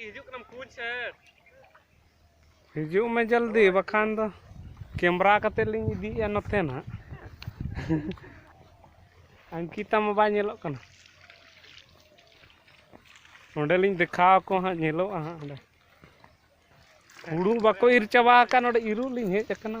ᱦᱤᱡᱩᱜ ᱠᱟᱱᱟᱢ ᱠᱩᱧ ᱥᱮᱫ ᱦᱤᱡᱩᱜ ᱢᱮ ᱡᱚᱞᱫᱤ ᱵᱟᱠᱷᱟᱱ ᱫᱚ ᱠᱮᱢᱨᱟ ᱠᱟᱛᱮ ᱞᱤᱧ ᱤᱫᱤᱭᱮᱜᱼᱟ ᱱᱚᱛᱮ ᱱᱟᱜ ᱟᱝᱠᱤᱛᱟ ᱢᱟ ᱵᱟᱭ ᱧᱮᱞᱚᱜ ᱠᱟᱱᱟ ᱚᱸᱰᱮ ᱞᱤᱧ ᱫᱮᱠᱷᱟᱣ ᱟᱠᱚ ᱦᱟᱸᱜ ᱧᱮᱞᱚᱜᱼᱟ ᱦᱟᱸᱜ ᱚᱸᱰᱮ ᱦᱩᱲᱩ ᱵᱟᱠᱚ ᱤᱨ ᱪᱟᱵᱟ ᱟᱠᱟᱫ ᱱᱚᱰᱮ ᱤᱨᱚᱜ ᱞᱤᱧ ᱦᱮᱡ ᱟᱠᱟᱱᱟ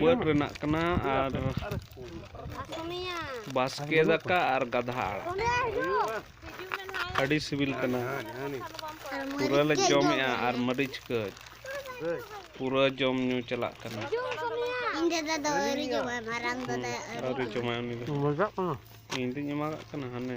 ᱵᱟᱹᱫᱽ ᱨᱮᱱᱟᱜ ᱠᱟᱱᱟ ᱟᱨ ᱵᱟᱥᱠᱮ ᱫᱟᱠᱟ ᱟᱨ ᱜᱟᱫᱷᱟ ᱟᱲᱟᱜ ᱟᱹᱰᱤ ᱥᱤᱵᱤᱞ ᱠᱟᱱᱟ ᱯᱩᱨᱟᱹ ᱞᱮ ᱡᱚᱢᱮᱜᱼᱟ ᱟᱨ ᱢᱟᱹᱨᱤᱪ ᱠᱟᱹᱡ ᱯᱩᱨᱟᱹ ᱡᱚᱢ ᱧᱩ ᱪᱟᱞᱟᱜ ᱠᱟᱱᱟ ᱤᱧ ᱫᱟᱫᱟ ᱫᱚ ᱟᱹᱣᱨᱤ ᱡᱚᱢᱟᱭ ᱢᱟᱨᱟᱝ ᱫᱟᱫᱟ ᱟᱹᱣᱨᱤ ᱡᱚᱢᱟᱭ ᱩᱱᱤ ᱫᱚ ᱤᱧ ᱫᱩᱧ ᱮᱢᱟᱜᱟᱜ ᱠᱟᱱᱟ ᱦᱟᱱᱮ